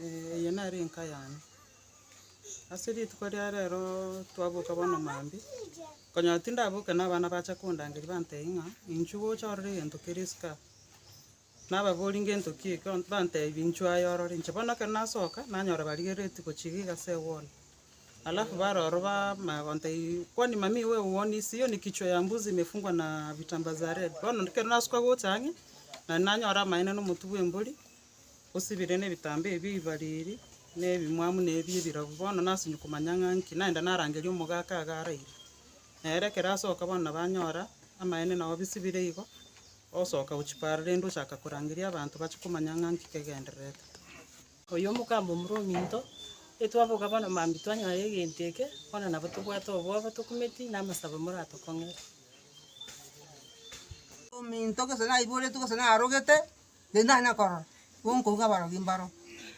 Eye nere enka yane. Ase rituko ria rero twaboka bono mambia, nkonyora tindaboke na abana bacha kondangeria bantebi ng'a inchuo gocha orore egento kere isiko aa. Nababorie ngento ki eke, banteebia, Inchuo aye orore. Inche bono ekero nasoka, nanyora barigereretie gochiga iga ase eguono. Alafu bare ororo bamanya gontebia, Kwani mami we eguono ise, hiyo ni kichwa ya mbuzi imefungwa na vitambaa za red? Bono ekero nasoka gocha ang'e, na nanyora amaene na omotwe bw'embori, osibire nebitambaa ebio ebibariri, na ebimwamu na ebi ebirabu. Bono nasimia komanya ng'a nki, naenda narangeria omogaka iga araire. Nere ekero asoka bono nabo anyora amaene nao bisibire igo, Osoka gochia Paro, rende ochaka korangeria abanto bache komanya ng'a nki kegendererete. Oyo omogamba omorua ominto, Etwaboka bono mambia twanyora egento eke, bono nabo tobwate obobe, tokumeti, na amasabo moratokong'ere. Ominto gose naiboretwe gose narogete, rende nare nakorora, igo nkouga abarogi mbaro,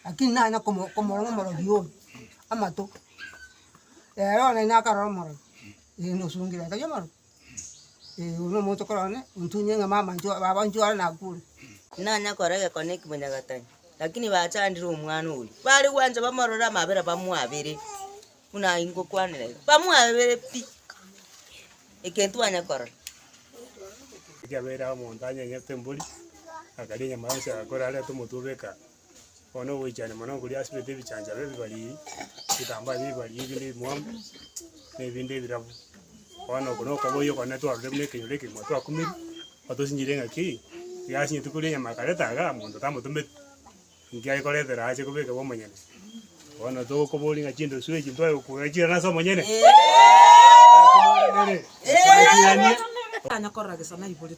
lakini nare nakomo komorora omorogi oyo amato. Ere one naye nakarora omorogi, rende osongire, otari omorogi. Ee, oyo nomonto okorora one, ontunyie ng'a mama intwe baba intwe are nakure. Nanya kora egekone eki Monyagatari, lakini bachandire omwana oria. Bare gwancha bamorore amabera bamwabere, buna aye ngokwanera iga, bamwabere pi, ekero twanya korora. Ekiagera omonto anyenyete embori, akaria enyama yonsi, agakora arete omotwe obe ekaa. bono ogoichania mono okoria asibete ebichancharo ebibariri, ebitambaa bia ebibariri ebinde ebimwamu, na ebinde ebirabu. Bono oko na okoboyia okone twarorire buna ekenyoro ekegima twakumirie, otosinchire ng'aki, iga ase rituko ria nyama akareta iga, monto tamotometi, inki ayekoretera ache kobeka bwa omonyene. Bono togokoboria ng'a chindosu echi ntwaye gokura ching'ana ase omonyene? Twaye ching'ana ase omonyene?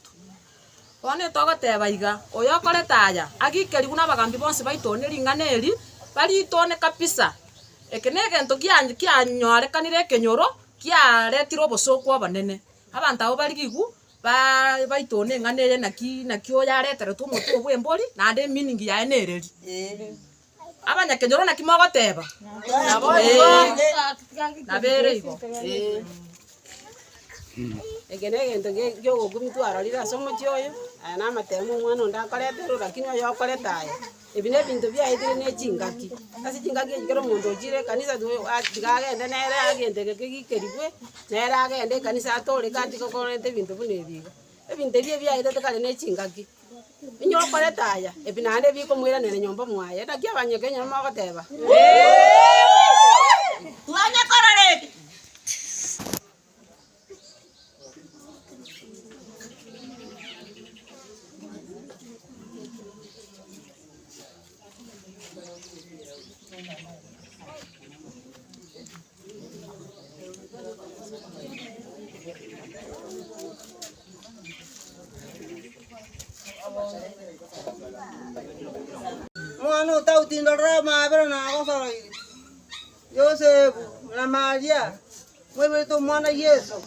Bono togoteba iga, oyokorete aya agikerigwe nabagambi bonsi baito ne ring'ana eri, bariitone kabisa. Eke negento kianyorekanire ekenyoro kiaretirwe obosooku obonene. Abanto abwo barigigwe baitone eng'ana eye naki naki oyo areteretwe omotwe bw'embori naende eminingi yaye nereri. Abanyakenyoro naki mogoteba? Nabere igo. Eke negento giogokumi twarorire ase omochi oyo, aya namatemo ma omwana onde akoreterwe, rakini oyo okorete aya. Ebi nebinto biaetire ne chingaki, ase chingaki echi kera omonto ochire ekanisa tiga agende nere agente geke gikerigwe, nere agende ekanisa atoreke atige okorenta ebinto buna ebi iga. Ebinto ebi ebiaetete kare nechingaki, Onye okorete aya, ebi naende ebikomoiranera nyomba mwaye. Naki abanyoko enyora mogoteba, Twanya korora eke! Omwana otagotindorera amaabera nagosoroire. Yosefu na Maria mwaigwete omwana Yeso.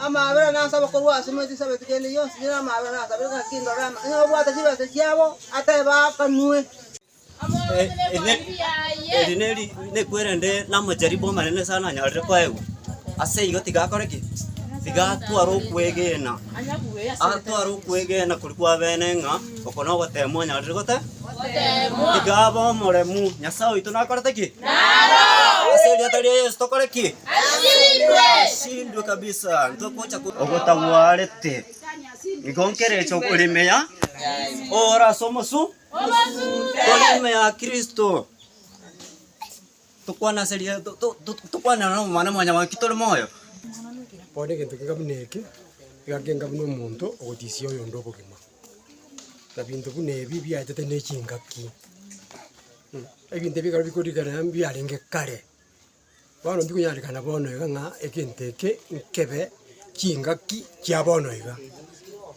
Amaabera nase abakoro ase emeti esabe tikende yonsi nere amaabera nase abere ng'a kindorere ama. Onye obwate chibesa chiabo atebe akanwe. Eri neku erinde namacharibu amanene sana anyorire koegwa, ase igo tiga akore ki? Tiga atware okwegena, atware okwegena koria kwa bene ng'a oko nogoteemwa onyorire gote? Goteemwa. Tiga abe omoremu, Nyasae oito nakorete ki? Narorwe. Ase erieta ria Yeso tokore ki? Asindwe. Asindwe kabisa. Ntogocha ko- ogotagwarete. Igo nkerecha okoremea, ore ase omosu. Tore nyuma ya Kristo, tokwane ase ria, to- to- to- tokwane ore nomwana mwanyabanto naki tore moyo. Bono egento keka buna eke, iga nkenga buna omonto ogotisia oyonde obogima. Na binto buna ebi biachete ne chingaki. Ebinto ebi ekero bikorigererea mbiarenge kare. Bono tikonyarekana bono iga ng'a egento eke nkebe chingaki chia bono iga.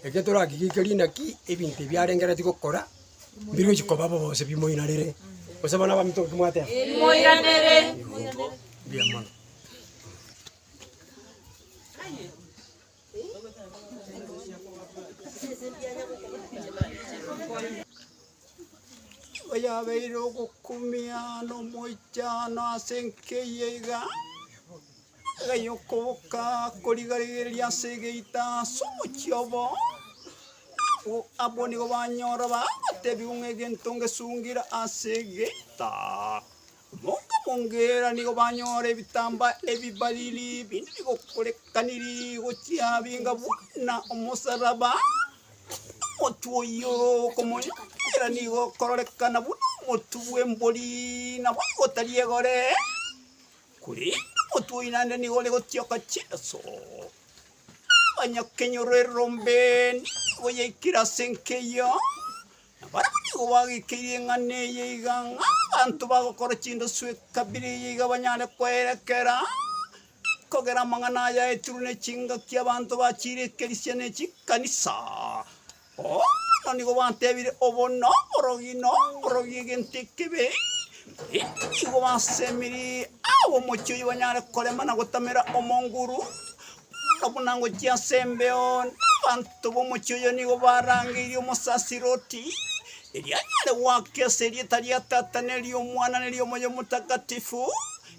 Eke torakigikeri naki ebinto ebi arengereretie gokora mbigochi koba bobe gose bimoirarere. Gose bono abaminto ki mwateba? Bimoiranere. Mbuya mono. Oyabeire ogokumia nomoichano ase enkeyia iga, gaiyo okoboka korigarigereria ase egeita ase omochie obo, abwo abwo nigo banyora bagotebiwa ng'a egento ngesungire ase egeita. Mokamongeera nigo banyora ebitambaa ebibariri binde bigokorekaniri gochia binga buna omosaraba. Omotu oyio okomonyokwera nigo okororekana buna omotu bw'embori, na boigo tari egore, korende omotu oyio naende nigo ore gotioka chinso. Abanyakenyoro erombe nigo yaikire ase enka eyio, Na barabwo nigo bagoikeirie eng'ana eye iga, ng'a abanto bagokora chindosu ekabira eye iga banyare koerekera kogera amang'ana ayaetirwe ne chingaki abanto bachiire ekerisia ne chikanisa. Bono nigo batebire, Obo noborogi, noborogi, egento ekebe. Naende nigo basemerie abomochie oyio banyare korema na gotamera omonguru. Buna buna ngochia ase embeo, abanto b'omochie oyo nigo barangeirie omosasiire oti, Erio anyare goaka ase erieta ria Tata, ne ri'Omwana, ne ri'Omoyo Omotakatifu,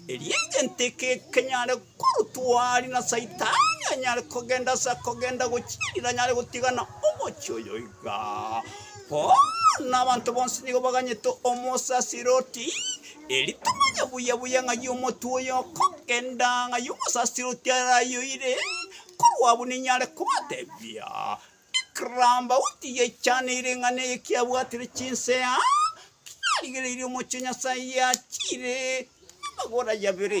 erio egento eke kenyare korutwa aria, na Saitani anyare kogenda ase akogenda gochiirira, anyare gotigana omochie oyo igaa. Bono abanto bonsi nigo baganyete omosasiire oti, Eritonye buya buya ng'ai omotwe oyo okogenda, ng'ai omosasire otia arayoire, korwa abwo ninyare kobatebia, Ekero Daudi yaichaneirie ng'a neye kiabwatire chinsea, kiarigereirie omochie o Nyasae yachiire amagora yabere.